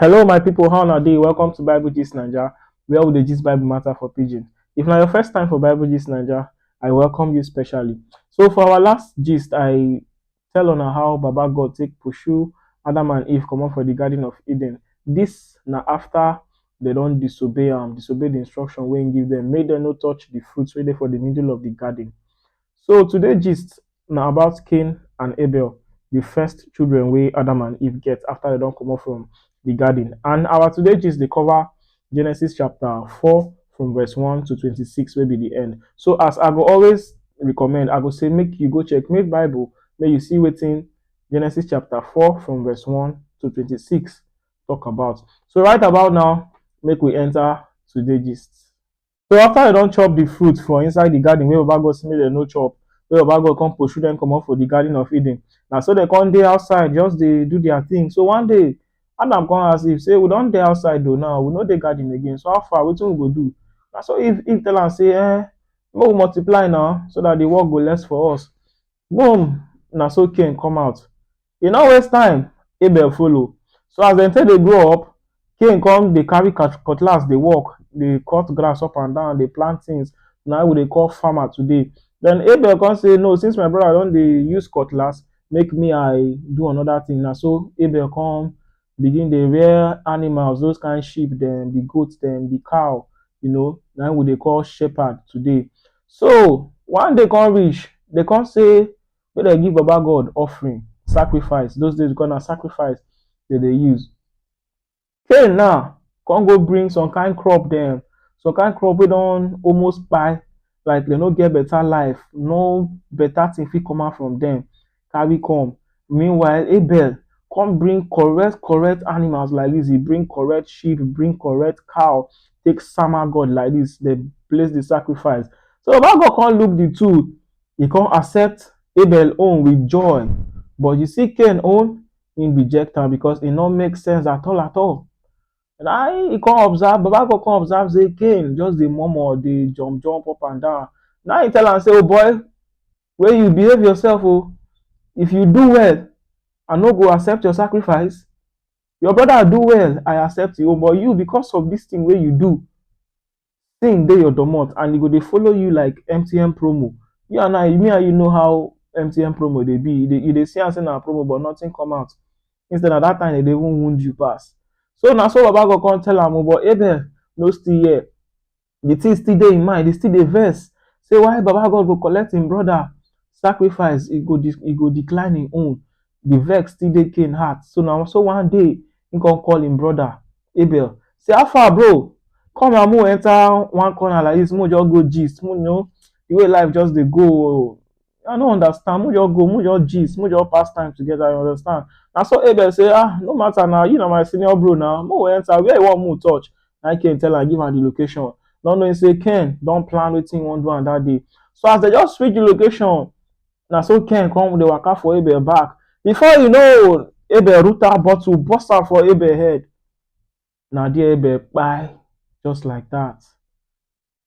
Hello my people, how una dey? Welcome to Bible Gist Naija, where we dey gist Bible matter for pidgin. If na your first time for Bible Gist Naija, I welcome you specially. So for our last gist, I tell una how Baba God take pursue Adam and Eve comot for the Garden of Eden. This na after they don disobey am, disobey the instruction wey he give them, make them no touch the fruit wey dey for the middle of the garden. So today gist na about Cain and Abel, the first children wey Adam and Eve get after they don comot from the garden. And our today gist dey cover Genesis chapter 4 from verse 1 to 26 wey be the end. So as I go always recommend, I go say make you go check make Bible, make you see wetin Genesis chapter 4 from verse 1 to 26 talk about. So right about now, make we enter today gist. So after dem don chop the fruit for inside the garden wey Baba God say make dem no chop, wey Baba God come pursue dem comot for the garden of Eden, na so dem come dey outside just dey do their thing. So one day, Adam come ask Eve say, we don dey outside o now, we no dey garden again, so how far, wetin we go do? Na so Eve Eve tell am say, um make we multiply na so that the work go less for us. Boom! Na so Cain come out. E no waste time, Abel follow. So as dem take dey grow up, Cain come dey carry cutlass dey work, dey cut grass up and down, dey plant things. Na we dey call farmer today. Then Abel come say, No, since my brother don dey use cutlass, make me I do another thing. Na so Abel come begin dey rear animals, those kain sheep dem, de goat dem, de cow, you know, na im we dey call shepherd today. So, one day come reach, dey come say make dem give Baba God offering, sacrifice. Those days, we call na sacrifice dem dey use. Cain now come go bring some kain crop dem, some kain crop wey don almost kpai, like dem no get better life, no better thing fit come out from dem. carry come. Meanwhile, Abel come bring correct correct animals like this. He bring correct sheep, he bring correct cow, take sama God like this. They place the sacrifice. So Baba God come look the two. He come accept Abel own with joy. But you see Cain own, he reject am because e no make sense at all at all. And I he come observe, Baba God come observe say Cain just dey murmur, dey jump jump up and down. Now he tell am say, oh boy, wey you behave yourself oh, if you do well I no go accept your sacrifice, your brother do well I accept him own but you because of this thing wey you do thing dey your domot and e go dey follow you like MTN promo, you and I me and you know how MTN promo dey be, you dey see am sey na promo but nothing come out instead na that time dem dey even wound you pass, so na so baba God come tell am oh but Abel no still hear, the thing still dey im mind, e still dey vex sey why Baba God go collect im brother sacrifice, e go e go decline im own, the vex still dey Cain heart, so na so one day im come call im brother Abel sey how far bro, come na make we enter one corner like dis make we just go gist, you know the way life just dey go oo, I no understand. Make just go, make just gist, make just pass time together. You understand? Na so Abel say, ah, no matter now. You na my senior bro now. Make we enter. Where you want me to touch? Na Ken tell am, give am the location. Not knowing say Ken don plan wetin he wan do am that day. So as they just switch the location, na so Ken come dey waka for Abel back. Before you know, Abel root out bottle, burst am for Abel head. Na there Abel kpai just like that.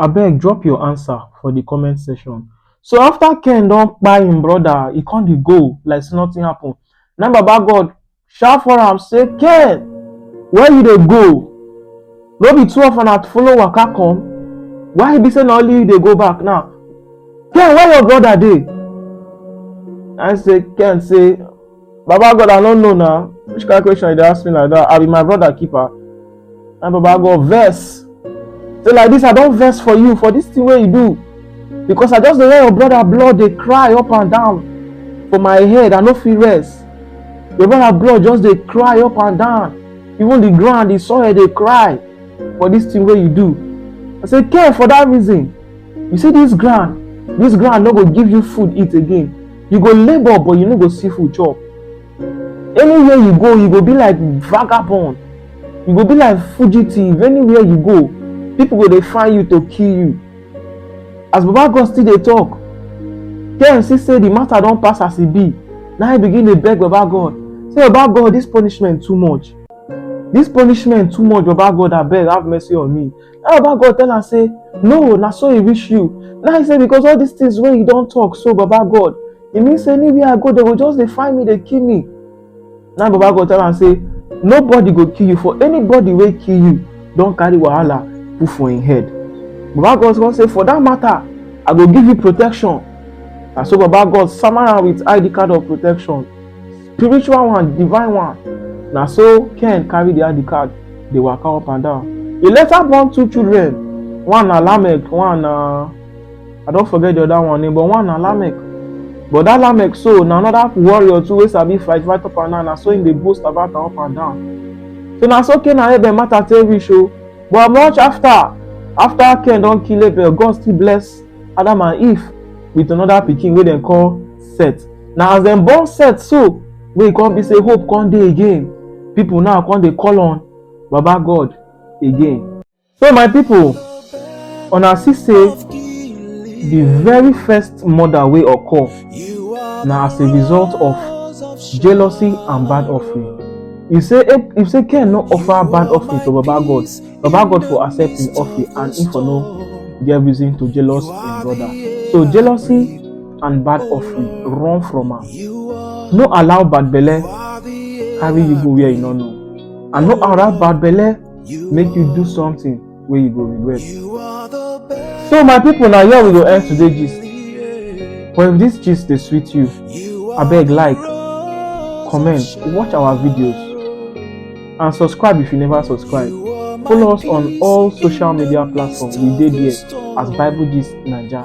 Abeg drop your answer for the comment section. So after Ken don kpai him brother, he come dey go like say nothing happen. Na Baba God shout for am say, Ken, where you dey go? No be two of una follow waka come? Why e be say na only you dey go back now? Ken, where your brother dey? I say, Ken say, Baba God, I no know na. Which kind question you dey ask me like that? I be my brother keeper. And Baba God vex. Say like this, I don vex for you for this thing wey you do. Because I just dey hear your brother blood dey cry up and down for my head. I no fit rest. Your brother blood just dey cry up and down. Even the ground, the soil dey cry for this thing wey you do. I say, care for that reason. You see this ground, this ground no go give you food eat again. You go labour but you no go see food chop. Anywhere you go, you go be like vagabond. You go be like fugitive. Anywhere you go, people go dey find you to kill you. As Baba God still dey talk, KMC say the matter don pass as e be. Na him begin dey beg Baba God. Say Baba God, this punishment too much. This punishment too much, Baba God, abeg have mercy on me. How about God tell am say, no, na so e reach you. Now he say because all these things wey you don talk so, Baba God, e mean say anywhere I go, they go just dey find me, dey kill me. Now Baba God tell am say, nobody go kill you for anybody wey kill you don carry wahala put for im head. Baba God come say, for that matter, I go give you protection. Na so Baba God sama am with ID card of protection. spiritual one divine one na so ken carry the id card dey waka up and down e later born two children one na lamek one na i don forget the other one name but one na lamek but that lamek so na another warrior too wey sabi fight fight up and down na so him dey boast about am up and down so na so ken and abel matter take reach o but much after after ken don kill abel god still bless adam and eve with another pikin wey dem call set na as dem born set so wey e come be say hope come dey again people now come dey call on baba god again so my people una see say the very first murder wey occur na as a result of jealousy and bad offering you say if, if say ken no offer bad offering to baba god baba god for accept him offering and him for no get reason to jealous him brother so jealousy and bad offering, run from am. No allow bad belle carry you go where you no know, and no allow bad belle make you do something wey you go regret. So my people, na here we go end today gist. But if this gist dey sweet you, abeg like, comment, watch our videos, and subscribe if you never subscribe. Follow us on all social media platforms. We dey there as Bible Gist Naija.